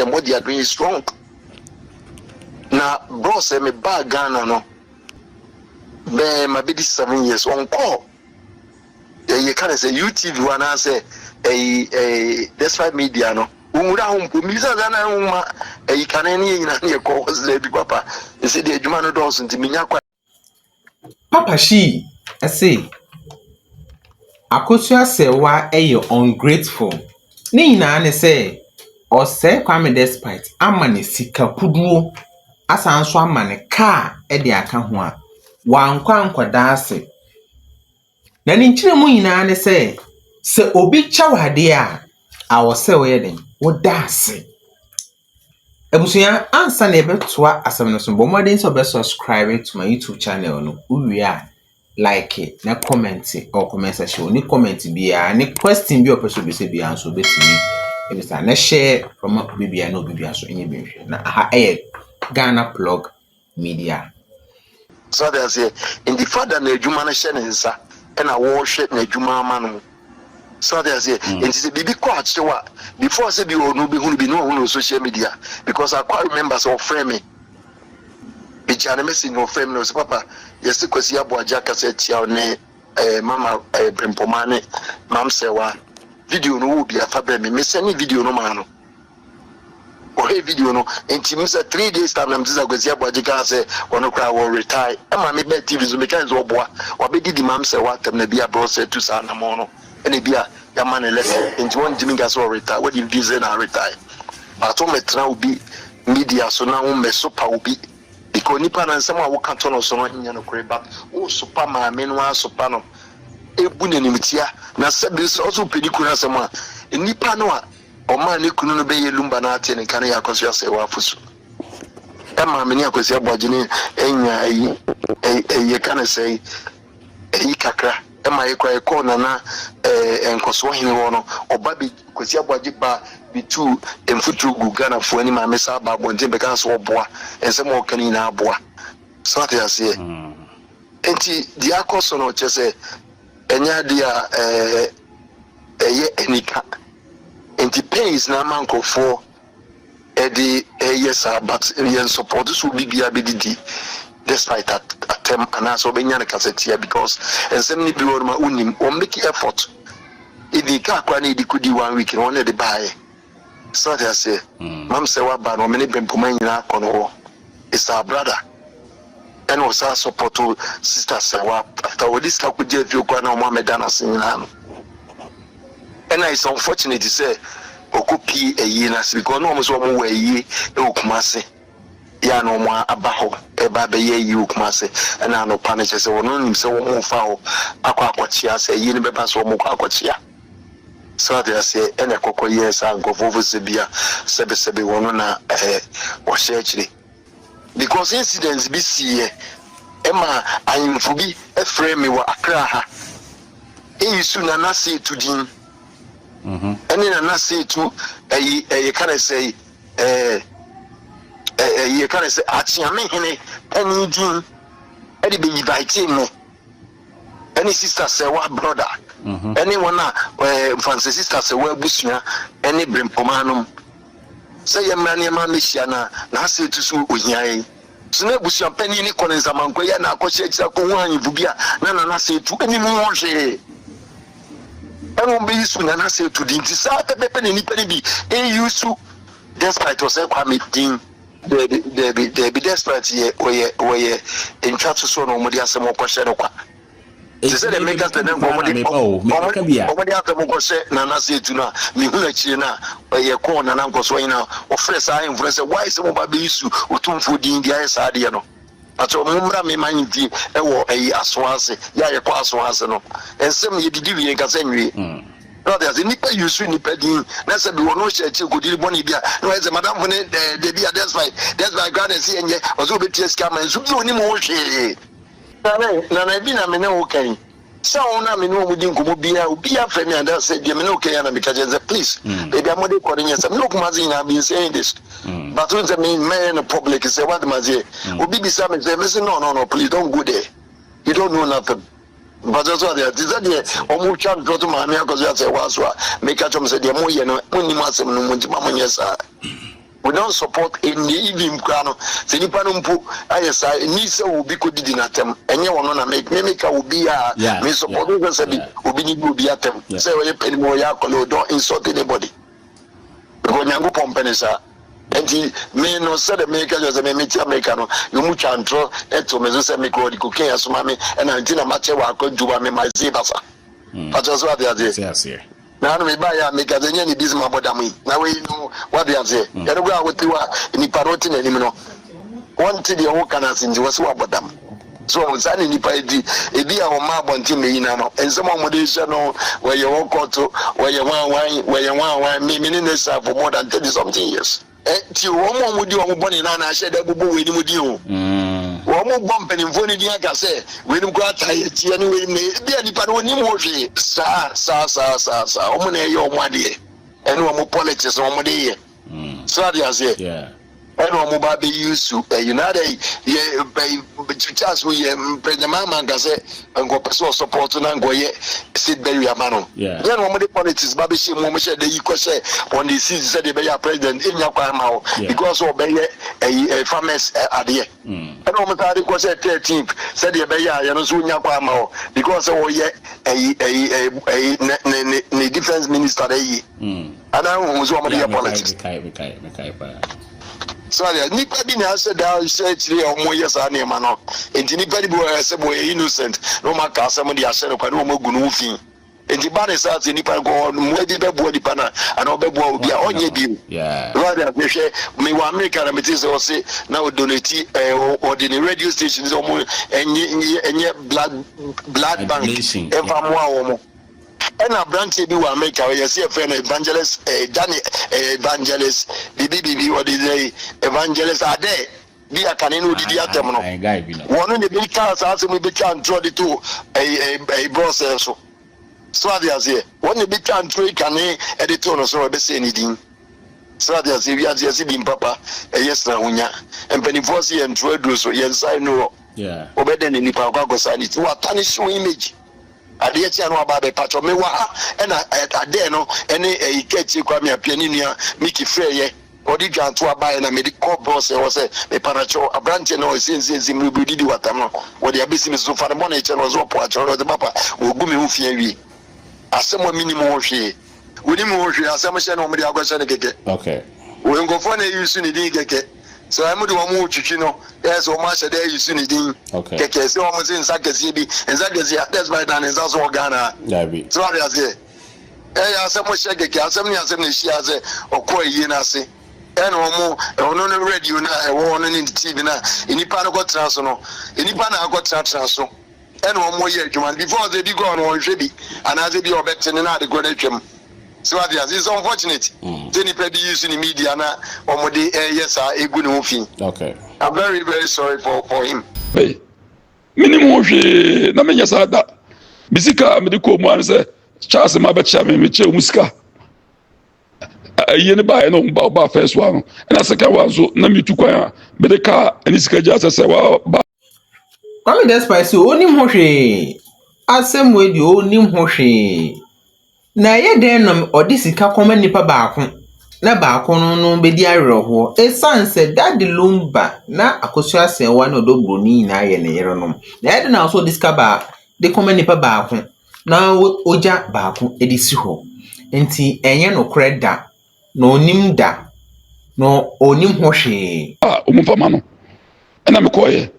the more they are doing is wrong na bro sɛ me baa ghana no bɛɛ ma bɛdi seven years ɔnkɔɔ yɛyɛ ka ne sɛ utv hɔ anaasɛ ɛyi ɛyi despite media no wɔnwura ho mpo mmisa sɛ na nwoma ɛyi kane ne yɛ nyina ne yɛkɔ hɔ sɛ daabi papa ɛsɛ deɛ adwuma no dɔɔso nti menya kwa Papa Shee se, Akosua Sewwa yɛ ungrateful. Ne nyinaa ne sɛ ɔsɛe Kwame Despite ama no sika kuduo asan nso ama no kaa de aka ho a, wankɔ ankɔda ase. Na ne nkyerɛmu nyinaa ne sɛ, sɛ obi kyɛ wo adeɛ a, awɔ sɛ woyɛ den, woda ase. Abusua, ansa na yɛbɛtoa asɛm no so, bɔ mmɔden sɛ ɔbɛ subscribe to my YouTube channel no. Wowie a, like na comment wɔ comment section. Ɔne comment biara, ne question bi a ɔpɛ sɛ obisa biara nso obɛtumi ebisa. Na share ɔma obi biara na obi biara nso nyɛ bi nhwɛ. Na aha ɛyɛ Ghana Plug media. So ate aseɛ? Nti fa da n'adwuma no hyɛ ne nsa ɛna wɔhwɛ n'adwuma ama no. So ate aseɛ? Mm. Nti sɛ biribi kɔ akyew a, before sɛ bi ɔno bɛhunu bi ne ɔhunu no social media. Because I quite remember sɛ ɔfrɛ me. Megya ne message na ɔfrɛ me na ɔsɛ papa yɛse Kwasi Aboagye akasa atia wo ne eh, mama eh, Brempoma ne Mam Sɛwa. Video no wɔ bi afa brɛ me. Mesɛne video no maa no. Mohwɛɛ video no nti me sɛ three days time na mete sɛ Kwasi Aboagye kaa sɛ ɔno koraa wɔ retae ɛma me baa TV so mekae sɛ ɔboa wabɛdidi mam sɛ wɔ atɛm na bia brɔ sɛ tu saa anamɔn no ɛna bia yɛama no lesson nti wɔn ntimi nka sɛ ɔ retae wadi mfie sɛ na retae but wo mɛtena obi media so na wo mɛ sopa obi because nipa no nsɛm a woka to no so no nyɛ nokore but wo sopa maame no a sopa no ebu n'animtia na sɛ bi sɛ ɔso pɛ ne kunu asɛm a nipa no a Ɔmaa ne kunu no bɛyɛɛ Lumba na atee ne nka no yɛ Akwasoa Asɛewaa afosu. Ɛmaa me ne Akwasi Aboagyene nyaa ayi, ɛ, yɛka no sɛe, ayi kakra. Ɛmaa yɛkɔ a yɛkɔɔ Nana, ɛ, Nkɔsoɔ Hene hɔ no, ɔba bɛ, Kwasi Aboagye ba bɛtuu mfuturo guu Ghanafoɔ anim a mesan baa abɔnten bɛkaa sɛ ɔboa, nsɛm a ɔka no nyinaa aboa. So ate aseɛ? Enti deɛ akɔ so no, kyerɛ sɛ, Ɛnyɛ ade a ɛyɛ anika, enti pains na ama nkurɔfoɔ de reyɛ saa but yɛ nsupporto sɛ obi biara bɛdidi despite at atɛm anaasɛ ɔbɛnya no kasatia because nsɛm no bi wɔ nom a wonnim wɔn make effort even car koraa na yɛde kɔdi one week no wɔn na ɛde baeɛ. So wate aseɛ? Mam sɛ waba no, me ne Bempoma nyina akɔ no hɔ, is our brother, ɛna ɔsaa sɔpɔto sister sɛ wa after ɔde sika kɔgyaa fie koraa na ɔmo amɛda no ase nyinaa no, ɛna is unfortunate sɛ ɔkɔ pie ayie no ase because na ɔmo sɛ ɔmo wɔ ayie ɛwɔ Kumasi, yɛ a na ɔmo aba hɔ ɛɛba abɛyɛ ayie wɔ Kumasi, ɛna anɔpa no kyerɛ sɛ ɔno nim sɛ ɔmo refa hɔ akɔ akɔkyea, sɛ ayie no bɛba sɛ ɔmo kɔ akɔkyea. So ate aseɛ? Ɛna ɛkɔkɔ yɛɛ saa nkorɔfoɔ fo sɛ bia sɛbesɛbe wɔn no na wɔahyɛ akyire because incident bi siiɛ ɛma ahenfo bi frɛɛ me wɔ Accra ha Eyisu Nana Seetu din ɛne Nana Seetu ɛyi ɛyɛ ka ne sɛ ɛɛ ɛyɛ ka ne sɛ Akyeame hene panin din ɛde bɛ invite me ɛne sista sɛ wa brɔda mhm. ɛne wɔn a ɛɛ nfansɛ sista sɛ wa abusua ɛne brempɔmaa nom sɛ yɛ mmra nneɛma mmehyia na na ase etu so ohia yi so na abusua panyin ne kɔ ne nsamanko yɛ na akɔhyɛ akyire akɔhu ahemfo bi a na na n'ase etu ɛne mu ho hwee ɛna wɔn bɛyi so na n'ase etu di nti saa pɛpɛpɛ na nipa ne bi eyi so despite ɔsɛ kwame din. Dabi, dabi, dabi, Desperate yɛ, wɔyɛ, wɔyɛ ntwatosoɔ na wɔde asɛm rekɔhyɛ no kwa. Te sɛ deɛ meka sɛ na nka wɔde, wɔde, wɔde asɛm rekɔhyɛ Nana sɛ etu no a, mehunu akyire no a, yɛkɔɔ Nana Nkɔsoɔ hene a ɔfrɛ saa ahemfo no sɛ, why sɛ moba abɛyi su Otumfoɔ din de ayɛ saa adeɛ no. Pakyɛw mo mmra me man nti wɔ ɛyi aso ase yɛ a yɛ kɔ aso ase no nsɛm yɛ didi wie nkasa nwie so wate ase nipa use nipa din na sɛ bi wɔ no hyɛ akyire kɔdiri bɔne bi a na wɔyɛ sɛ madamfo ne eh, dabi a despite despite kora na ɛsɛ yɛnyɛ ɔsɛ wɔbɛtua sika ma nso bi ɔnim ho hwee nana nana bi na me ne wo kan Sɛ wɔn a me ne wɔn di nkɔmmɔ biara, obiara frɛ me ada sɛ deɛ me ne wo kɛyɛ na meka kyerɛ sɛ please mm. baabi a mode kɔ no nyɛ sɛ me ne okuma ase nyinaa been saying this mm. but n sɛ me mɛyɛ no public sɛ wade ma seɛ mm. obi bisa me sɛ me se no no no please don't go there you don't know nothing mpasɛ so adeɛ te sɛ deɛ ɔmo twa ntorɔ to maame akɔ so asɛ waa so a meka kyɛm sɛ deɛ moyɛ no monim asɛm no mu nti ma monyɛ saa We don't support nea even koraa no sɛ nipa no mpo ayɛ saa ɛni sɛ obi kɔ didi n'atɛm ɛnyɛ ɔno na me me meka obi a me support wo sɛ sɛbi obi ne bi obi atɛm sɛ ɔyɛ panin mu ɔyɛ akɔla o don't insult anybody because nyankopɔn mpɛ ne saa nti me no sɛ de meka kyerɛ sɛ me mete amerika no na ɔmu twa ntorɔ ɛto me so sɛ me kɔ ɔde kokain asoma me ɛna nti na makyɛ wɔ akɔ adwuma me ma ɛsee basa fakyɛ so ate aseɛ Na no mebaeɛ a meka sɛ, Nyɛ anibisem a bɔdam yi, na wei no woate aseɛ. Ɛno koraa a wote hɔ a, nnipa no wote n'anim no, wɔnte deɛ woreka no ase nti, wɔse woabɔ dam. So ɔho, saa ne nnipa yi te. Ebi a wɔmma abɔnten bɛ nyina no, nsɛm a wɔde rehyɛ no, wɔyɛ ɔkɔto, wɔyɛ hwan hwan, wɔyɛ hwan hwan, me, me ne n'asuafo more than thirty something years. Ɛnti o, wɔn a wɔdi wɔn bɔne no anaa hyɛ da bobɔ weinom din o. Wɔbɔ mpanimfoɔ no din aka sɛ, Weinom koraa taa yɛ kyi ne weinom na ɛyɛ. Ebia nnipa no wɔnnim ho hwee. Saa, saa, saa, saa, saa. Wɔn na ɛyɛ wɔn adeɛ. Ɛne wɔn politics na wɔde yɛ. So ate aseɛ? Ɛna wɔn ba bɛ use ɛyi. Na adɛn yɛ bɛyi Charles mu yɛ President Mahama nka sɛ Nka ɔpɛ sɛ ɔsɔpɔɔto no anka ɔyɛ seat burial ama no. Yɛn na wɔde politics ba bɛhyɛ mu wɔhyɛ da yi kɔhyɛ wɔn de seat sɛdeɛ ɛbɛyɛ a president ɛnya kwan ama wo because ɔbɛyɛ ɛyi eh, farmers eh, adeɛ mm. ɛna wɔn saa de kɔhyɛ thirteenth sɛdeɛ ɛbɛyɛ a yɛn nso nya kwan ama wo because ɔyɛ ɛyi ɛyi ɛyi ne ne ne ne defence minister ɛyi mm. ɛna wɔn nso wɔn de yɛ politics. Sɛdeɛ nnipa bi na ahyɛ da hyɛ akyire a wɔyɛ saa nneɛma no nti, nnipa no bi wɔ hɔ sɛ wɔyɛ innocent na wɔn aka asɛm de ahyɛ no kwa na wɔn agu no ho fi. Nti ba ne saa sɛ nnipa no kɔ hɔ no, mmoa bi bɛboa nnipa no a, anaa ɔbɛboa obi a, ɔnyɛ bio. Sɛdeɛ mehwɛ me wɔ Amerika na mete sɛ ɔse na ɔdonati ɛɛ ɔde ne radio station sɛ wɔn ɛnyɛ ɛnyɛ blood blood bank ɛmfa mmoa wɔn. Ɛna abranteɛ bi wɔ America hɔ yɛse yɛfrɛ no Evangelist eh, Daniel eh, Evangelist biribi biribi ɔde dɛ Evangelist adɛ bi a kane no odidi atɛm no wɔno ne bi kaa saa asɛm yi bɛtwa ntorɔ de to eh, eh, eh, brɔsɛ so so ade aseɛ wɔn ne bi twa ntorɔ yi kane ɛde to no so ɛbɛsɛ ne din so ade aseɛ wiase yɛse din papa ɛyɛ sena ho nya mpanimfoɔ se yɛ ntorɔ aduro so yɛn nsa ɛnu hɔ wɔbɛdɛ ne nipa akɔ akɔ saa ne ti wɔatane show image Adeɛ kye a na waba abɛ pakyɛw me wɔ ha ɛna Adeɛ no ɛne ɛyi ka akyire koraa me apia ne nua Mickey frɛ yɛ ɔde dwan to abaɛ na mede kɔ bɔs ɛhɔ sɛ me panakyɛw abranteɛ no ɔyɛ siensiensi mmiribiri didi wɔ atam no wɔde abɛsi me soso fa ne bɔne kyɛ no ɔse ɔpo akyɛw no ɔde ba pa wɔagu me ho fi awie asɛm a mennim ho hwee. wonim ho hwee asɛm hyɛ na wɔn de akɔhyɛ no kɛkɛ ok wei nkɔfoɔ na ɛyi su ne din kɛkɛ sɛ wɔn de wɔn retwitwi no ɛyɛ sɛ wɔn ahyɛ dɛ ɛyi su ne din ok kɛkɛ sɛ wɔn se nsa kɛseɛ bi nsa kɛseɛ a that's why da ne nsa so wɔ Ghana ha daabi so wɔde aseɛ ɛyɛ asɛm hyɛ kɛkɛ asɛm ne asɛm na ɛhyia sɛ ɔkɔ ayie no ase ɛna wɔn ɔno no radio no a ɛwɔ hɔ no ne TV no a nnipa no kɔtena so no nnipa na akɔtenatena so ɛna wɔyɛ adwuma no before sɛ ebi kɔ no wɔnhwɛ bi anaasɛ bi a ɔbɛte no na ade korɔ no atwam so ate ase it's unfortunate mm. sɛ nipa bi use ne media na wɔde ɛyɛ eh, saa egu ne ho fi okay i'm very very sorry for for him hey mini mu hwee na menyɛ saa da me sika a mede kɔɔ mu ano sɛ charles ma bɛkyea me mekyɛ mu sika ayie ne baeɛ no ba ɔba fɛ so ano ɛna sika wa nso na metu kwan a mede kaa ne sika gya sɛ sɛ waba Kwame Despite sɛ onnim ho hwee, Asɛmue deɛ onnim ho hwee. Na ɛyɛ dɛn na ɔde sika kɔma nnipa baako na baako no no bɛdi awerɛhoɔ? Ɛsiane sɛ Daddy Lumba na Akosua Asɛɛwa ne Ɔdɔ Buroni nyinaa yɛ ne yerenom. Na ɛyɛ dɛn na ɔsɛ ɔde sika baa de kɔma nnipa baako na ɔgya baako de si hɔ? Nti ɛnyɛ nokorɛ da. Na ɔnnim da, na ɔnnim ho hwee. A wɔn fa ma no. Ɛna me kɔɔ yɛ.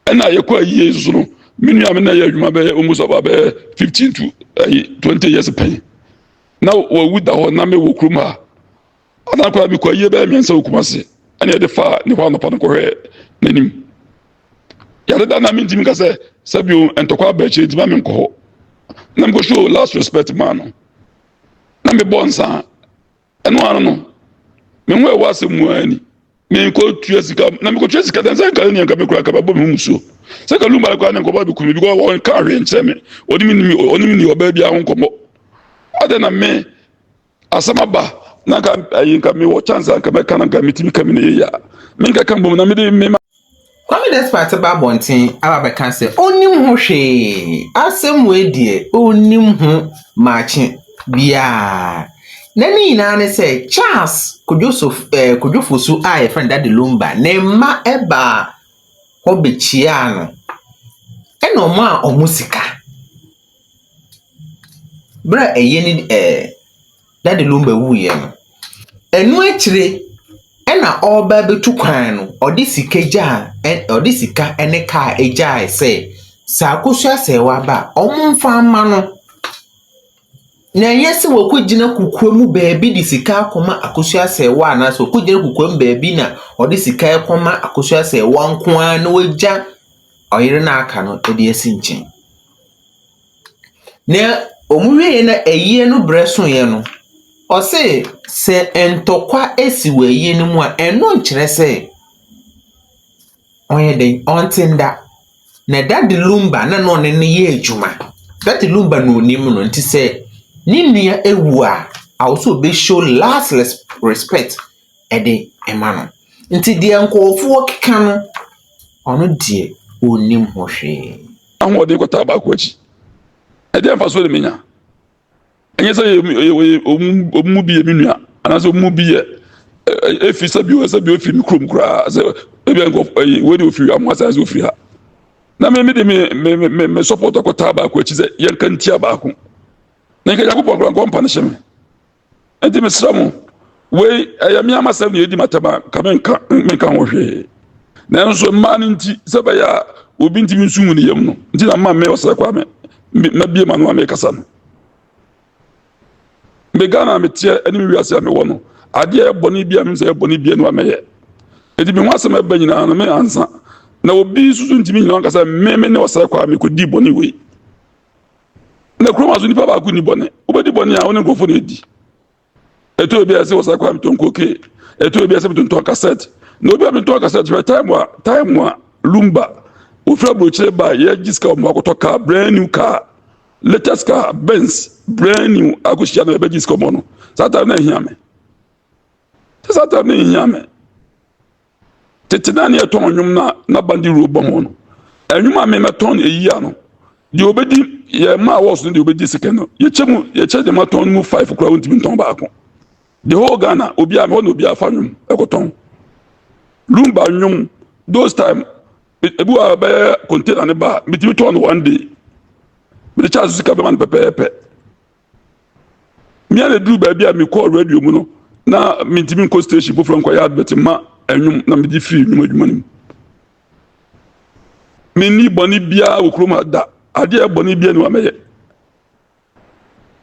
Ɛna yɛ kɔ ayie nso no me nua me na yɛ adwuma bɛyɛ almost about bɛyɛ fifteen to ɛyi twenty years pɛn. Na wawu da hɔ na me wɔ kurom ha. Ana koraa me kɔ ayie bɛyɛ mmiɛnsa wɔ Kumasi ɛna yɛde fa ne hɔ anɔpa no kɔhwɛ n'anim. Yɛde da na me ntumi nka sɛ sɛbi o ntɔkwa aba akyire ntoma me nkɔ hɔ. Na me kɔ show last respect maa no. na mebɔ nsa a ɛno ano no me ho ɛwɔ asɛm mu ara ni mekɔ tua sika na mekɔ tua sika dan sɛ nka ne nka mekura kaba bɔ me ho musuo sɛ ka lumba kora ne nkɔba bɛku me because wɔn ka ahwɛ nkyɛn me ɔne me nimi ɔne me ni ɔbaa bi aho nkɔmmɔ adɛ na me asɛm aba na nka ayi nka mewɔ chance a nka mɛka na nka metumi ka me ne yɛyɛ a menka ka mbom na mede mema Kwame Despite ba abɔnten aba abɛka sɛ ɔnnim ho hwee. Asɛm wei deɛ ɔnnim ho maakye biara. Na ne nyinaa ne sɛ Charles Kodwoso eh, Kodwofosu a yɛfrɛ no Dade Lumba ne mma ɛbaa hɔ bɛkyiaa no ɛna ɔmo a ɔmo sika. Berɛ a ɛyɛ ne eh, Dade no bɛwuiɛ no, ɛno akyire na ɔreba abɛtu kwan no, ɔde sika gyaa ɛ ɔde sika ne kaa gyaeɛ sɛ, sɛ akosua sɛɛ waba a, wɔmfa mma no. Na ɛnyɛ sɛ wakɔgyina kokoam baabi de sika akɔma akosua sɛɛwa anaasɛ wakɔgyina kokoam baabi na ɔde sika rekɔma akosua sɛɛwa nko ara na wagya ɔyere no a aka no de asi nkyɛn. Nea wɔwieeɛ no ayie no berɛ soeɛ no, ɔse sɛ ntɔkwa si wɔ ayie no mu a, ɛno nkyerɛ sɛ ɔyɛ dɛn, ɔnte nda. Na Daddy Lumba na na ɔne no yɛ adwuma. Daddy Lumba na ɔnim no nti sɛ ne nua wu a, awɔ sɛ ɔbɛ show last res respect. de ma no. Nti deɛ nkurɔfoɔ keka no, ɔno deɛ ɔnnim ho hwee. Ahoɔden kɔtaa baako akyi. Ɛdeɛ mfasoɔ na menya? Ɛnyɛ sɛ wɔn mu bi yɛ me nua anaasɛ wɔn mu bi yɛ efi sɛ bi sɛ bi ofi me kurom koraa sɛ ebi nkurɔfoɔ ɛyi wei de ofi amu asan sɛ ofi ha. Na me me de me me me me support akɔtaa baako akyi sɛ yɛn ka ntia baako. Na nka Nyankopɔn koraa nkɔmpa no hyɛ me. Enti mesrɛ mo, wei ɛyɛ me ara m'asɛm na ɛdi m'atɛm a, nka menka menka ho hwee. Nanso mmaa no nti, sɛ ɛbɛyɛ a obi ntumi nsu ngu ne yam no nti na mma me ɔsrɛ kwa me mabie m'ano a mekasa no. Me Ghana a meteɛ ne me wiase a mewɔ no, adeɛ a ɛbɔne bi a menim sɛ ɛyɛ bɔne bi a no a mɛyɛ. Enti me ho asɛm ɛba nyinaa no me ansa. Na obi nso so ntumi nyina ankasa me me ne ɔsrɛ kwa a mekɔdii bɔne wei. na kurom aso nipa baako ni bɔne wobɛdi bɔne a wo ne nkurɔfoɔ no adi ɛtɔ obi a ɛsɛ wɔ saa kwan metɔn koke ɛtɔ obi a ɛsɛ metontɔn kasɛt na obi a metɔn kasɛt hwɛ time a time a lumba wofiri aburokyire ba yɛgye sika wɔn akɔtɔ kaa brand new car latest car benz brand new akɔhyia no yɛbɛgye sika wɔn no saa time na ɛhia me sɛ saa time na ɛhia me Tete na ne yɛtɔn nnwom na na bande wuro bɔ mu no. Nnwom a memɛtɔn eyi a no, deɛ obɛdi yɛ mma awards no deɛ obɛdi sika no. Yɛkyɛ mu yɛkyɛ deɛ matɔn no mu five koraa wontumi ntɔn baako. The whole Ghana obiara mehɔ na obiara fa nnwom ɛkɔtɔn. Lumba nnwom those time ebi wɔ a bɛyɛ container ne ba metumi tɔn no one day. Mede kyɛ asosika bɛma no pɛpɛɛpɛ. Mia na eduru baabi a mekɔɔ radio mu no, na mentumi nkɔ station foforɔ nkɔyɛ advert mma ɛnwom na megye firi nnwom adwuma no mu. Menni bɔne biara wɔ kurom ha da, adeɛ bɔne biara ni wa mɛyɛ.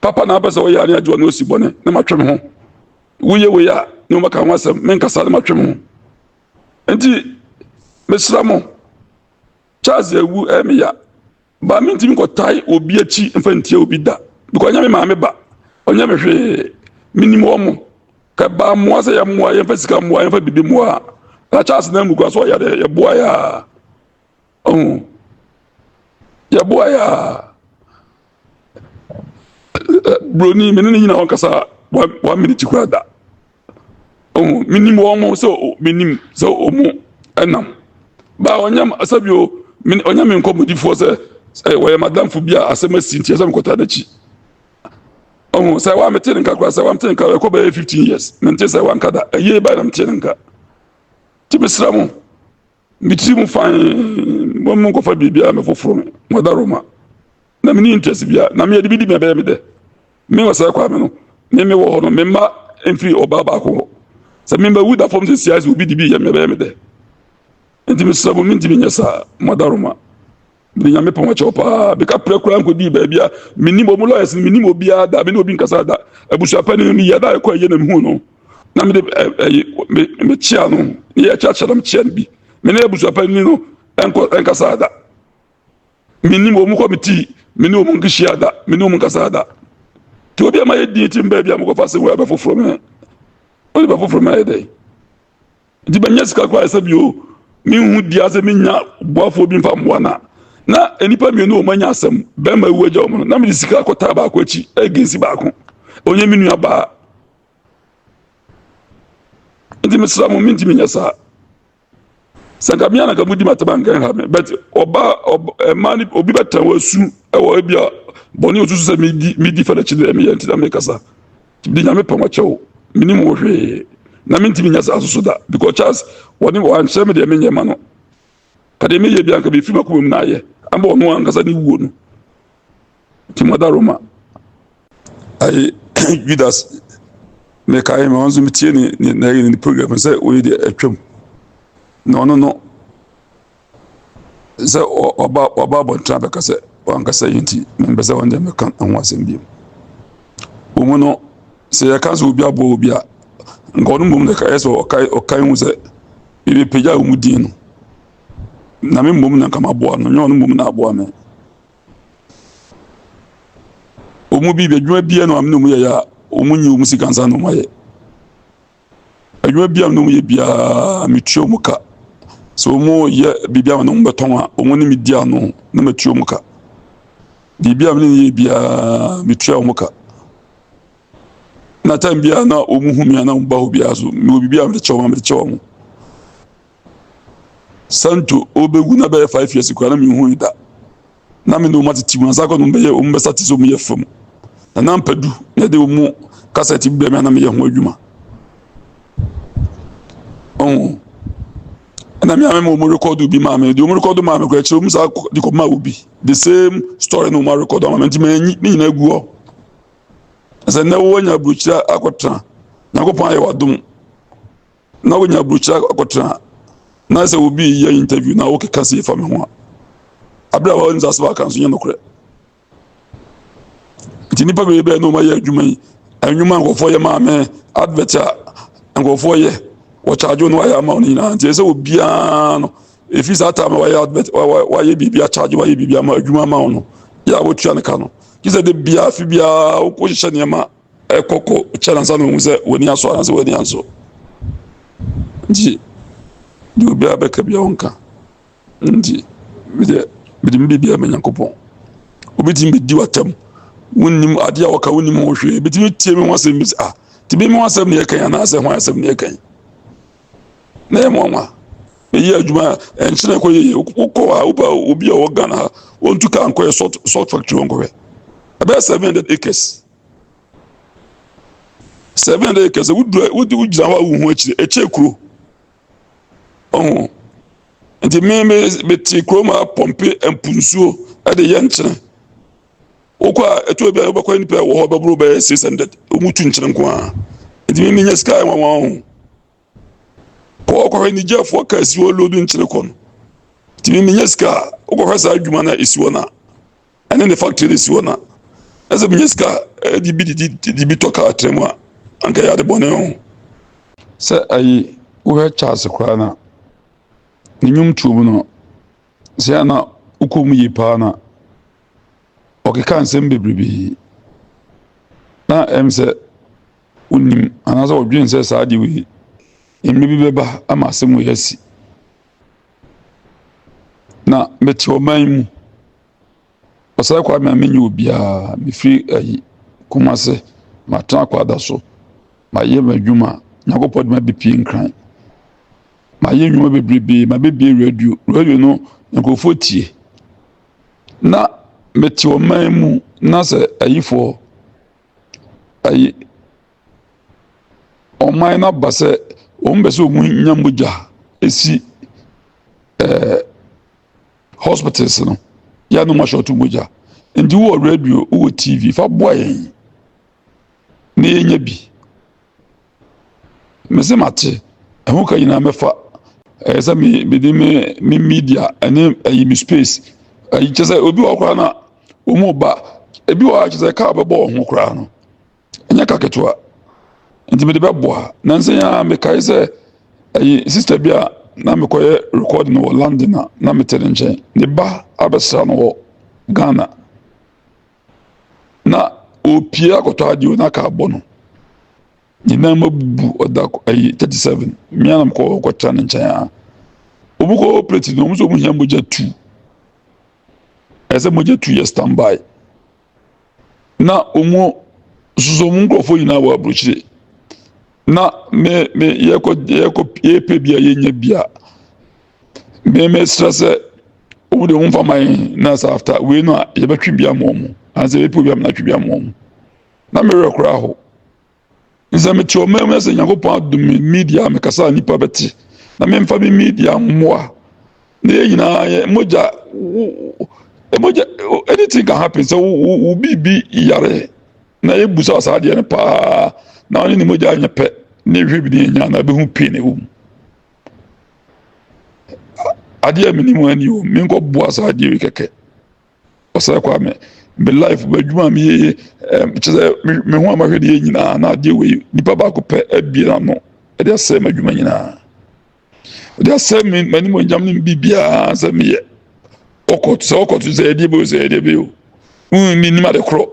Papa na apɛ sɛ ɔyɛ ane agye ɔne ɔsi bɔne na matwe me ho. Woyɛ wei a ne wɔbɛka ho asɛm menkasa na matwe me ho. Nti mesra mo Charles awu ɛyɛ me ya Ba mi ntumi nkɔtae obi akyi mfa ntia obi da because ɔnyɛ me maame ba ɔnyɛ me hwee menim wɔn mo ka ba mmoa sɛ yɛmmoa yɛmfa sika mmoa yɛmfa biribi mmoa a na charles na mu kora so ɔyɛ dɛ yɛboa yɛ a ɔho yɛboa yɛ a buroni mene ne nyina wɔnkasa one minute kora da ɔhu menim wɔn mo sɛ menim sɛ wɔn ɛnam baa ɔnyam asɛbi o ɔnyam me nkɔmɔdifoɔ sɛ sɛ wɔyɛ madamfo bi a asɛm asi nti ɛsɛ mekɔta n'akyi ɔhu sɛ wa mete ne nka koraa sɛ wa mete ne nka ɛkɔ bɛyɛ fifteen years mente sɛ wa nka da ɛyɛ baa na mete ne nka ti mesra mo me tirim fann mo nkɔfa biribiara me foforɔ no mɔda roma na mene interest bia na meyɛde bi di me ɛbɛyɛ me dɛ me wɔ saa kwa me no me me wɔ hɔ no me mma mfiri ɔbaa baako hɔ sɛ memba wu da fam sɛ siase obi di bi yɛ me ɛbɛyɛ me dɛ nti mesrɛ mo mentimi nyɛ saa mɔda roma Me nyame pɔn akyɛw paa beka prɛ koraa nkɔdii baabi a menim ɔmu lawyers no menim obiara da mene obi nkasa da abusuapɛ no meyɛ da ɛkɔ ayie na mehu no na mede mekyea no ne yɛkyeakyea na mekyea no bi mene abusuapɛ ni no nkasa da menim ɔmu kɔ metii mene ɔmu nkehyia da mene ɔmu nkasa da nti obi ama yɛdin ti mbaa bi a mokɔfa sɛ wɔ ɛbɛ foforɔ mɛ ɔde bɛ foforɔ mɛ ayɛ dɛn Nti manya sika koraa sɛ bio menhu dua sɛ menya boafoɔ bi mfa mmoa na na nnipa mmienu wɔn anya asɛm bɛrima awu agya wɔn no na mede sika akɔtaa baako akyi agensi baako ɔnyɛ me nua baa nti mesra mo mentumi nyɛ saa sɛ nka mea na nka modi matema nka ha me but ɔba ɛma ne obi bɛtɛn wɔ asu ɛwɔ ebi a bɔne osusu sɛ medi medi fɛlɛ kyi dɛ meyɛ nti na mekasa Bi nyame pɛ wɔkyɛ o menim wo hwee na mentimi nya saa soso da because Charles wɔne wɔankyerɛ me deɛ menyɛ ma no ka deɛ meyɛ bi anka bɛfiri makoma mu na ayɛ ama ɔno ankasa ne wuo no nti mada Roma ayi Judas mekae ma ɔnso metie ne ne program sɛ wɔyi deɛ atwam na ɔno no sɛ ɔba ɔba abɔnten abɛka sɛ wankasa yi nti mempɛ sɛ wɔn deɛ mɛka ho asɛm bio wɔn mu no sɛ yɛka sɛ obi aboa obi a nka ɔno mmom na ɛyɛ sɛ ɔkae ɔkae ho sɛ yɛbɛpagya wɔn mu din no na me mmom na nka maboa no nyɛ ɔno mmom na aboa me wɔn mu bi adwuma biara na wɔn na wɔn yɛyɛ a wɔn nyi wɔn sika nsa na wɔn ayɛ Adwuma biara a me ne wɔn yɛ biara, metua wɔn ka. Sɛ wɔyɛ biribi a me ne wɔn bɛtɔn a, wɔn ne me di ano na matua wɔn ka. Biribi a me ne wɔn yɛ biara, metua wɔn ka. Na time biara na wɔhu me a na wɔba hɔ biara so, mewɔ biribi a mede kyɛ wɔn a, mede kyɛ wɔn. Santo, Ɔrebɛwu na bɛyɛ five years koraa na menhui da. Na me ne wɔn atete mu ansa kɔ no bɛyɛ wɔn bɛsa te sɛ wɔn yɛ fam. Na na mpadu na ɛde wɔn kasɛte bi brɛ me a na meyɛ ho adwuma. Ɔho. Ɛna me ame ma wɔn rekɔdo bi maa me. Deɛ wɔn rekɔdo maa me koraa kyerɛ wɔn saa de kɔ maa obi. The same story na wɔn rekɔdo ama me nti manyi ne nyinaa gu hɔ. Sɛ nnɛ wɔanya aburokyire akɔtena. Nyankopɔn ayɛ wadom. na wonya burukyerɛ akɔtena na sɛ obi yɛ interview na wokeka sɛ yɛfa me ho a abere a wɔn nsase baka nso nyɛ nokorɛ nti nipa bɛyɛ bɛyɛ na wɔn ayɛ adwuma yi nnwuma nkurɔfoɔ yɛ maame advert a nkurɔfoɔ yɛ wɔkyaagye no wayɛ ama wɔn nyinaa nti ɛsɛ obiara no efi saa taama wayɛ advert wayɛ biribi akyaagye wayɛ biribi ama adwuma ama wɔn no yɛ a wɔtua ne ka no gye sɛ de biara fi biara wokɔ hyehyɛ nneɛma. ɛkɔkɔ kyɛ nansa na ohu sɛ w'ani asɔ anaa sɛ w'ani ansɔ nti deɛ obiara bɛka bia ɔnka nti medeɛ mede me biribiara ma nyankopɔn wobɛtumi bɛdi w'atam wonnim adeɛ a wɔka wonnim ho hwee bɛtumi tie me ho asɛm bi sɛ ah nti bi me ho asɛm ne yɛkan anaasɛ ho asɛm ne yɛkan na yɛ mmoanwa meyɛ adwuma ɛnkyerɛ kɔ yɛyɛ wokɔ a woba obi a ɔwɔ ghana ha wɔntu ka nkɔyɛ salt factory wɔnkɔhwɛ ɛbɛyɛ 700 acres Seven hundred acres sɛ wodura wodi wogyina hɔ a wohu akyire ɛkyɛ kuro ɔho nti me me mete kurom a pɔmpe mpo nsuo ɛde yɛ nkyene wokɔ a ɛtɔ bi a wobɛkɔ nipa ɛwɔ hɔ bɛboro bɛyɛ six hundred wɔn tu nkyene nko ara nti me menya sika ɛnwanwa ho. kɔ kɔhwɛ ne gyafoɔ ka si hɔ lodu nkyene kɔ no tumi menya sika a wokɔhwɛ saa adwuma no a ɛsi hɔ no a ɛne ne factory no si hɔ no a na sɛ menya sika a ɛde bi de bi tɔ kaa tra mu a anka yɛ ade bɔne ho sɛ ayi wohwɛ charles koraa no a ne nnwom tuo mu no sɛ ana wokɔ mu yie paa no a ɔkeka nsɛm bebrebe na ɛm sɛ Wonim anaasɛ wɔdwene sɛ saa adeɛ wei mmerɛ bi bɛba ama asɛm wei asi. Na mete ɔman yi mu. Ɔsɛe kwa ma menyɛ obiara. Mefiri ayi Kumase, matena akwada so. Mayɛ m'adwuma. Nyankopɔn de mabɛpie nkran. Mayɛ nnwuma bebrebe. Mabɛbie radio. Radio no, nkurɔfoɔ tie. Na mete ɔman mu na sɛ ayifoɔ ayi ɔman no aba sɛ wɔn bɛ sɛ wɔn nya mogya esi ɛɛ hospitals no yɛ anum ahyɛto mogya nti wɔ radio wɔ tv fa boa yɛn na yɛnya bi Mese mate, ɛho ka nyinaa mɛfa. Ɛyɛ sɛ me mede me me media ɛne ɛyi me space ɛyi kyɛ sɛ obi wɔ koraa na wɔn ba ebi wɔ akyɛ sɛ kaa bɛbɔ wɔn ho koraa no ɛnyɛ ka ketewa nti mede bɛboa na nsɛn a mekae sɛ ɛyi sista bi a na mekɔyɛ record no wɔ London a na mete ne nkyɛn ne ba abɛsra no wɔ Ghana. na ɔrepie akɔtɔ adeɛ na aka abɔ no nyinaa mu abubu ɔda ayi thirty seven mmea nam kɔ kɔtra ne nkyɛn a wɔn kɔ plate no wɔn nso wɔn hia mogya tu ɛsɛ mogya tu yɛ stand by na wɔn soso wɔn nkurɔfoɔ nyinaa wɔ aburokyire na me me yɛkɔ yɛkɔ yɛpɛ bi a yɛnya bi a. me me srɛ sɛ wɔn de wɔn nfa ma yɛn na sɛ after wei no a yɛbɛtwe bi ama wɔn ansa yɛbɛpɛ bi ama na atwe bi ama wɔn na mmerɛ koraa hɔ nsɛ mete ɔman mu sɛ nyankopɔn adom me media mekasa a nnipa bɛte na memfa me media mmoa na yɛn nyinaa yɛ mogya mogya anything can happen sɛ wo biribi yare na yɛbu sa saa adeɛ no paa na ɔne ne mogya anyɛ pɛ ne hwɛ bi ne ɛnya na ɛbɛhu pii na ɛwɔ mu adeɛ a menim a ni o menkɔ boa saa adeɛ yi kɛkɛ ɔsɛ kwa me me life m'adwuma a meyɛyɛ kyɛ sɛ me ho a mahwɛ deɛ nyinaa na adeɛ wei nipa baako pɛ abie n'ano ɛde asɛe m'adwuma nyinaa ɛde asɛe me m'anim onyam ne biribiara sɛ meyɛ ɔkɔto sɛ ɔkɔto sɛ ɛdeɛ bɛyɛ sɛ ɛdeɛ bɛyɛ o menim ade korɔ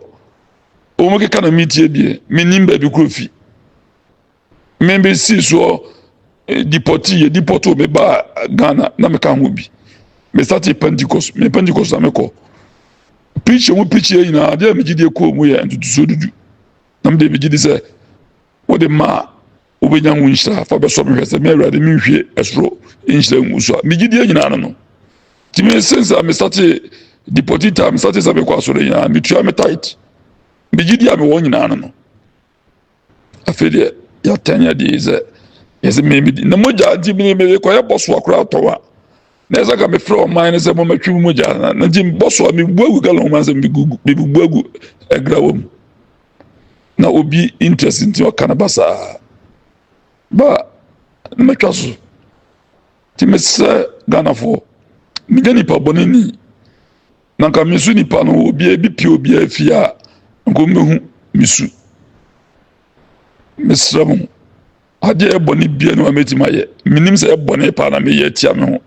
wɔn keka na metie deɛ menim baabi korɔ fi Me bɛ si soɔ eh, dipɔti yɛ dipɔti o me ba Ghana na me ka ho bi me sati Pentecost me Pentecost na me kɔ pikyi mu pikyi yɛ nyinaa adeɛ a me gyi di ekɔ mu yɛ ntutusuo dudu na me de me gyi di sɛ wo de maa wo bɛ nya ho nhyira fa bɛ sɔ me hwɛ sɛ me awurade me nhwie ɛsoro nhyira ngu so a me gyi di yɛ nyinaa no no ti me sinsa me sati dipɔti ta me sati sɛ me kɔ asɔre nyinaa me tua me tight me gyi di a me wɔ nyinaa no no. afei deɛ yɛatɛn yɛ deɛ sɛ yɛsɛ memedi na mogya nti mene mekɔyɛ bɔsoa koraa tɔwa na ɛsɛ ka mefrɛ ɔman no sɛ momatwe mu mogya na nti bɔsoa mebu agu galon ma sɛ mebubu agu agrawa mu na obi interest nti ɔka no ba saa ba mɛtwa so nti mesrɛ ghanafoɔ menya nipa bɔne ni Na nka me su nipa no obiara bi pie obiara fie a nka ɔmbɛhu me su mesrɛ mo adeɛ a ɛbɔne bia ne ma mɛtumi ayɛ menim sɛ ɛbɔne paa na meyɛ atia me ho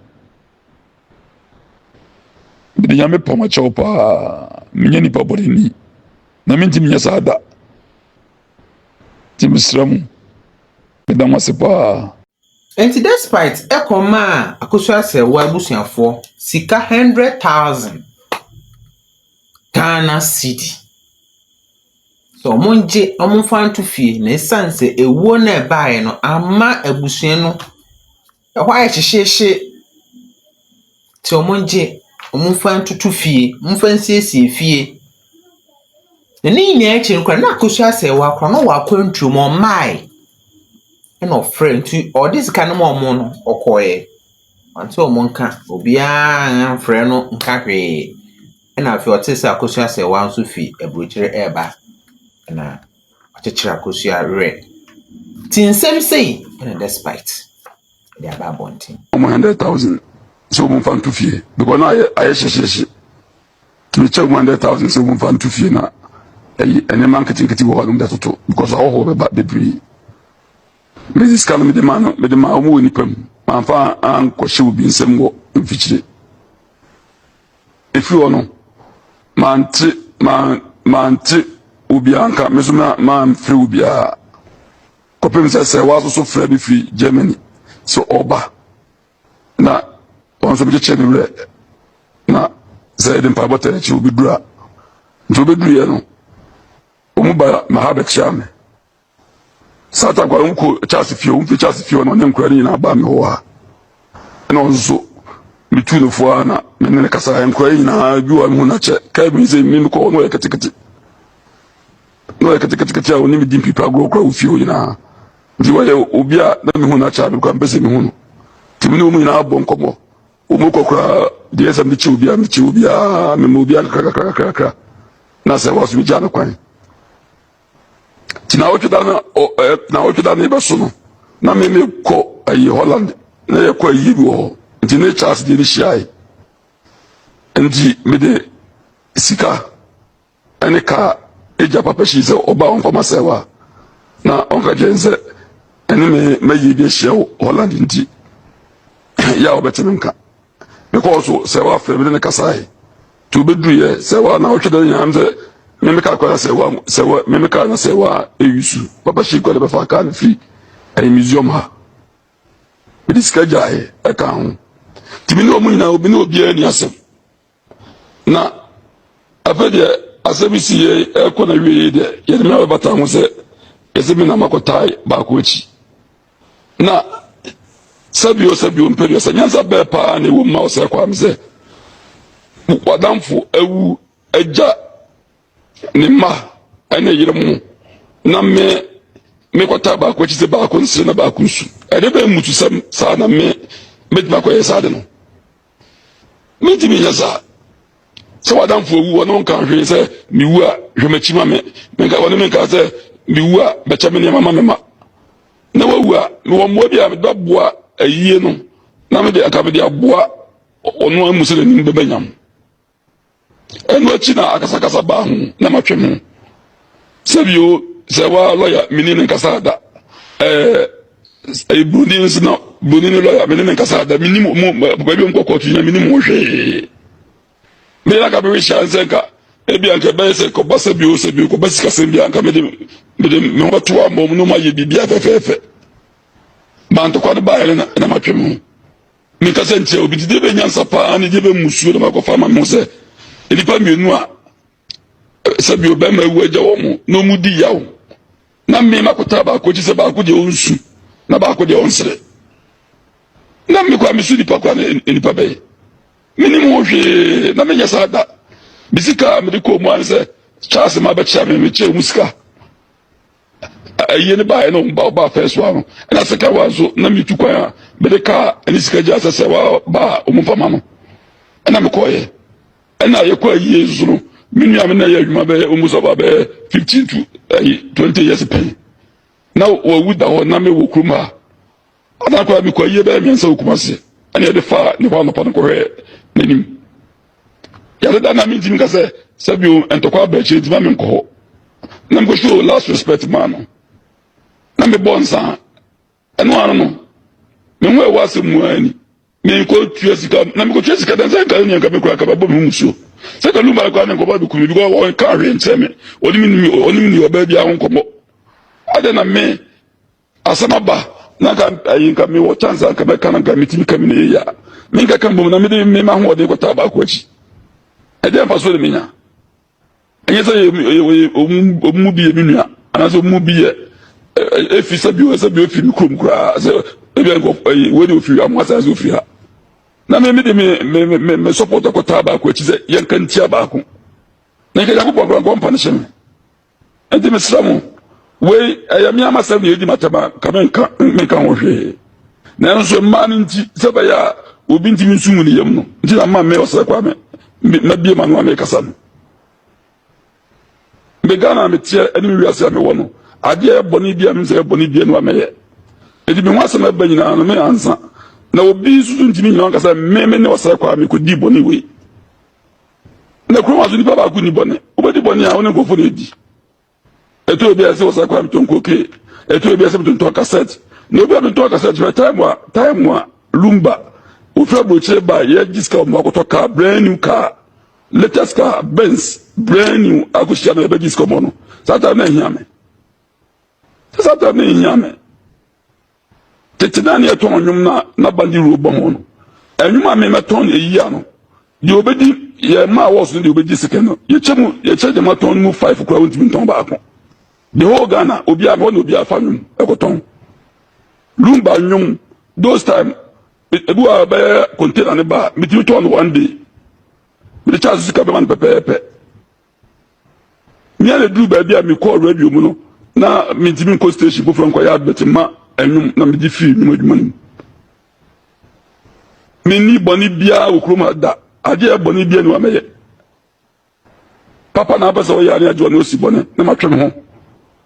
mede nyame pam akyɛw paa menyɛ nipa bɔneni na mentimi nyɛ saa da nti mesrɛ mo meda mo ase paa Enti despite ɛkɔm maa Akosua-Sɛɛwoa abusuafoɔ sika hundred thousand Ghana cedi sɛ wɔn gye wɔn nfa nto fie na ɛsiane sɛ ewuo no a ɛbaeɛ no amma abusua no ɛhɔ ayɛ hyehyeehye nti wɔn gye wɔn nfa ntoto fie, wɔn nfa nsiesie fie. Na ne nyinaa akyi no koraa na Akosua-Sɛɛwoa koraa na ɔwɔ akwantuo mu ɔmmae. ɛna ɔfrɛɛ nti ɔde sika no maa wɔn no ɔkɔeɛ. Wante wɔn nka, obiara amfrɛ no nka hwee. Ɛna afei ɔtee sɛ Akosua Sewaa nso firi aburokyire reba, ɛna ɔkyekyeree Akosua werɛ. Nti nsɛm sei ɛna Despite de aba abɔnten. Wɔn hundred thousand sɛ wɔmfa nto fie because na ayɛ ayɛ hyehyeehye. Tumi kyɛ one hundred thousand sɛ wɔn fa nto fie na ɛyi nneɛma nketenkete wɔ hɔ nom de toto because ahɔhoɔ bɛba bebree mesi sika no mede ma no mede ma wɔn wɔ nipa mu manfa ankɔhyɛ obi nsɛm wɔ mfikyire efiri hɔ no mante man mante obiara nka me so ma manfrɛ obiara kɔpem sɛ sɛ wɔasoso frɛ bi firi Germany sɛ ɔba na wɔn nsɛm kyekyɛ ne werɛ na sɛ yɛde mpaebɔ tɛ n'akyi obɛduru a nti obɛduruiɛ no ɔmu ba maha bɛkyea me satan kwa ɔmu kɔ charles fie ɔmu fi charles fie ɔno ɔne nkura no nyinaa baa me hɔ a ɛna ɔno nso metu no foɔ a na mene ne kasa nkura nyinaa bi wɔ me ho no akyɛ kaa bi sɛ mene no kɔ ɔno ɔyɛ ketekete na ɔyɛ ketekete a ɔnim di mpipa agorɔ kora wɔ fie hɔ nyinaa nti wɔyɛ obi a na mehu no akyɛ mekora mpɛ sɛ mehu no nti mene ɔmu nyinaa bɔ nkɔmmɔ ɔmu kɔ koraa deɛ sɛ mekyi obiaa mekyi obiaa mema obiaa kakrakakrakra na sɛ wɔso megyaa no kwan nti na wotwe da no na wotwe da no yɛbɛso no na meme kɔ ayi holland na yɛkɔ ayi bi wɔ hɔ nti ne charles deɛ ne hyiae nti mede sika ne ka a egya papa hyii sɛ ɔba a ɔmfa ma sɛe wa na ɔnka kyerɛ sɛ ɛne me mayi bi ahyia wɔ Holland nti yɛ a wɔbɛte me nka mekɔɔ so sɛ wafrɛ me ne no kasae nti wobɛduruyɛ sɛ wa na wotwe dɛ nyinaa sɛ memeka akora na sɛ wa sɛ wa memeka na sɛ wa ɛyi su papa hyii kɔ de bɛfa kaa no firi ɛyɛ museum ha mede sika gyaeɛ ɛka ho nti me ne ɔmo nyinaa obi ne obiara ni asɛm Na afei deɛ asɛm yi si yei ɛkɔ na wie yei deɛ yɛde me abɛbata ho sɛ ɛsɛ mi na makɔtae baako akyi na sɛbio sɛbio mpɛdeɛ sɛ nyansa bɛɛ paa na ɛwɔ mu ma wo sɛ kwaa me sɛ wadamfo awu agya ne mma ɛne yere mu na me mekɔtaa baako akyi sɛ baako nsere na baako nsu ɛde bɛn mmutusɛm saa na me mɛtumi akɔyɛ saa de no Mintumi nyɛ saa. Sɛ w'adamfo awu a, ɔne wo nka hwee sɛ, Miwu a, hwɛ m'akyi ma me. Menka ɔne me nka sɛ, Miwu a, bɛkyɛ me nneɛma ma me mma. Na wawu a, mewɔ mmoa bi a mede bɛboa ayie no, na me de, anka mede aboa ɔno a mmu sɛ n'anim bɛba nyam. Ɛno akyi na akasakasa baa ho na matwe ho. Sɛbio sɛ waa lɔya mene ne nkasaa da. Ɛɛ ɛyɛ buroni nso na buroni ne lɔya mene ne nkasaa da. Menim wɔn papa bi wɔn kɔ kɔɔto nyina menim wɔn hwee. Meyɛ na ka bɛwe hyia nsɛ nka ebi anka ɛbɛyɛ sɛ kɔba sɛbio sɛbio kɔba sikasɛm bi anka mede mede me ho bɛto abɔ mu na ɔmayɛ biribi afɛfɛɛfɛ. Mantokwa no baeɛ na matwe ho. Me kasa ntia obi ti de bɛ nyansa paa ne de bɛ musuo na ma kɔfa ma mo sɛ nnipa mmienu a sɛbi o bɛrima ewu agya wɔn na wɔn di yaw na mme ma kɔta baako akyi sɛ baako deɛ ɔnsu na baako deɛ ɔnsere na mme kɔ a mesu nipa kɔ a ne nipa bɛyɛ me ne mu hwee na menyɛ saa da me sika a mede kɔɔ mu ara ne sɛ charles ma bɛkyɛ me mekyɛ mu sika Ayie no baeɛ no ba ɔbaa first one no ɛna second one nso na metu kwan a mede kaa ɛne sika gyaa sɛ sɛ waa baa ɔmo mfa ma no ɛna mekɔɔyɛ ɛna yɛkɔ ayie nso no me nua me na yɛ adwuma bɛyɛ ɔmo sɛ ɔbaa bɛyɛ fifteen to ɛyi twenty years pɛn na wɔwu da hɔ na mewɔ kurom ha Ana akwadaa bi kɔ yie bɛyɛ mmiɛnsa wɔ Kumasi ɛna yɛde faa ne hɔ anɔpa no kɔhwɛɛ n'anim. Yɛde da na mentumi nka sɛ sɛ bio ntɔkwa aba akyire ntumi ame nkɔ hɔ. Na mekɔ show last respect maa no. Na mebɔ nsa ɛno ano no me ho ɛwɔ asɛm mu ara ni. Mekɔ tua sika na mekɔ tua sika dansa nka ne nka mekura kaba bɔ me ho musuo. Sɛ ka lumba kɔ ne nkɔbɔ bi kumi bi kɔ wɔn ka ahwɛ nkyɛn me. Ɔne me ni ɔne me ni ɔbaa bi ahɔ nkɔbɔ. Adɛn na me Asɛm aba na nka ayi nka mi wɔ chance nka mɛka na nka mi ti mi ka mi na yɛyɛ a mi nka ka mbom na mi de mi ma ho ɔden kɔtaa baako akyi ɛdeɛ nfa so na mi nya ɛnyɛ sɛ yɛ yɛ ɔmu mu bi yɛ mi nua anaasɛ ɔmu mu bi yɛ efi sɛ bi wɔ sɛ bi efi mi kurom koraa sɛ ebi nka ɛyi wei de ofiri amu asan so ofiri ha na mi mi de mi mi mi mi support kɔtaa baako akyi sɛ yɛn ka ntia baako na nka yakubɔ nkɔ nkɔ mpa ne hyɛ mi. Enti mesrɛ mo, wei ɛyɛ me ara m'asɛm na edi m'atɛm a, nka menka menka ho hwee. Nanso mmaa no nti, sɛ ɛbɛyɛ a obi ntumi nsu ngu ne yam no nti na mma me ɔsrɛ kwa me mabie m'ano a mekasa no. Me Ghana a meteɛ ne me wiase a mewɔ no, adeɛ yɛ bɔne bi a menim sɛ yɛ bɔne bi anua mɛyɛ. Enti me ho asɛm ɛba nyinaa no me ansa na obi nso so ntumi nyina ankasa me me ne ɔsrɛ kwa a mekɔdii bɔne wei. Na kurom aso nipa baako ni bɔne wobɛdi bɔne a wo ne nkurɔfoɔ no adi ɛtɔ obi a ɛsɛ wɔ sɛ kora metɔn koke ɛtɔ obi a ɛsɛ metontɔn kasɛt na obi a metɔn kasɛt hwɛ time a time a lumba wofiri aburokyire ba yɛgye sika wɔ mu akɔtɔ kaa brand new car latest car benz brand new akɔhyia me yɛbɛgye sika wɔ mu no saa time na ɛhia me saa time na ɛhia me Tete na ne yɛtɔn nnwom na na bandi ro bɔ ho no. Nnwom a me mɛtɔn eyi a no. Deɛ obedi yɛ mma a wɔso deɛ obedi sika no. Yɛkyɛ mu yɛkyɛ deɛ matɔn no mu five kura wɔntumi ntɔn baako. The whole Ghana obi a wɔn na obi afa nnwom ɛkɔtɔn. Lumba nnwom those time ebi wɔ bɛyɛ container ne ba metumi tɔn no one day. Mede kyɛ asosika bɛma no pɛpɛɛpɛ. Mia na eduru baabi a mekɔɔ radio mu no, na mentumi nkɔ station foforɔ nkɔyɛ advert mma ɛnwom na megye firi nnwom adwuma no mu. Menni bɔne biara wɔ kurom ha da, adeɛ yɛ bɔne biara ni wa mɛyɛ. Papa na apɛ sɛ ɔyɛ ne agye ɔne ɔsi bɔne na matwe me ho.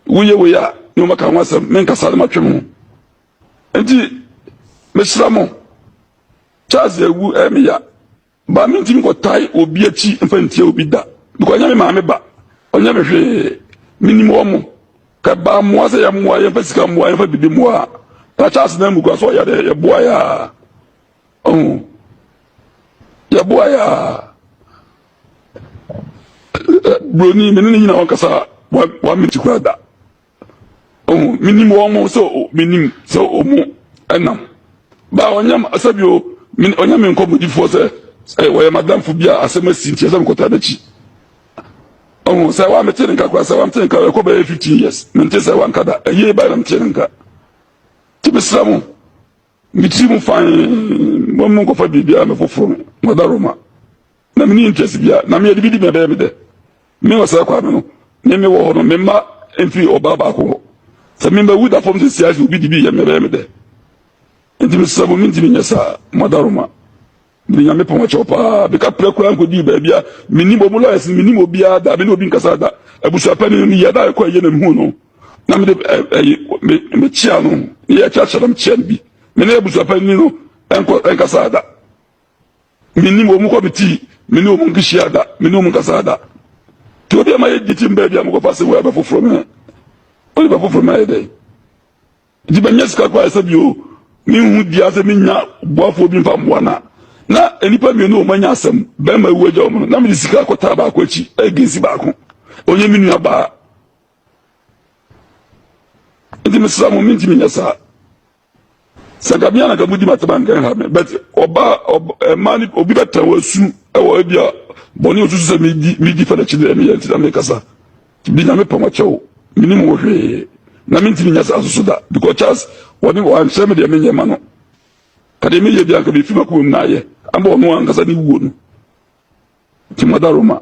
Woyɛ wei a ne ɔma ka ho asɛm menkasa na matwe me ho. Nti mesra mo Charles awu ɛyɛ me ya. Maame ntumi nkɔtae obi akyi mfa ntia obi da because ɔnyɛ me maame ba ɔnyɛ me hwee menim wɔn mo ka baa mmoa sɛ yɛmmoa yɛmfa sika mmoa yɛmfa biribi mmoa a takyɛ ase na mu kura so ɔyɛ dɛ yɛboa yɛ a ɔho yɛboa yɛ a buroni mene ne nyina wɔnkasa wɔn menti kura da ɔhu menim wɔn mo sɛ menim sɛ ɔmu ɛnam ba ɔnyam sɛbi o ɔnyam me nkɔmmɔdifoɔ sɛ sɛ wɔyɛ madamfo bi a asɛm asi nti ɛsɛ mekɔtaa n'akyi ɔhu sɛ wa mete ne nka kora sɛ wa mete ne nka ɛkɔ bɛyɛ fifteen years mente sɛ wa nka da ɛyie ba na mete ne nka te mesra mo metiri mu fan mo mu nkɔfa biribiara me foforɔ no mɔda roma Na menni interest biara, na meyɛ dibidi, mebɛyɛ me dɛ. Me wɔ saa kwan no no, me mewɔ hɔ no, me mma mfiri ɔbaa baako hɔ. Sɛ me mawu da fam seesei ara sɛ obi dibi yɛ me, ɛbɛyɛ me dɛ. Enti mesrɛ mo, mentumi nyɛ saa, mo adaworoma. Mede Nyamepɔn akyɛw paa, meka prɛ koraa nkodii baabi a mennim ɔmo lawyers no, mennim obiara da, me ne obi nkasaa da. Abusuapanin no, meyia da a ɛkɔ ayie na mehuu no, na mede ɛyi, me, mekyea no, ne yɛkyerɛkyerɛ na mekyea no bi. Me ne abusuapanin no ɛnkɔ, ɛnkasaa da. Menni wɔn kɔ me tii, me ne wɔn nkehyia da, me ne wɔn nkasa da. Nti obi a ma yɛgye tim baabi a mokɔfa sɛ wei abɛfoforo me, wode bɛfoforo me ayɛ dɛn? Nti manya sika koraa sɛ bio, menhu dua sɛ menya boafoɔ bi mfa mmoa na na nnipa mmienu wɔn anya asɛm bɛrima awu agya wɔn no na mede sika akɔtaa baako akyi ɛgensi baako ɔnyɛ me nua baa nti mesra mo mentumi nyɛ saa sɛ nka mea na nka mudi matema nka ha me but ɔbaa ɛmaa ne obi bɛtena wasu ɛwɔ ebi a bɔne osusu sɛ medi medi fa n'akyi deɛ meyɛ nti na mekasa bi nyame pam akyɛ wo menim wo hwee na mentimi nya saa soso da because charles wɔne wɔankyerɛ me deɛ menyɛ ma no ka deɛ meyɛ bi anka mefi makoma mu na ayɛ ama ɔno ankasa ne wuo no nti mada roma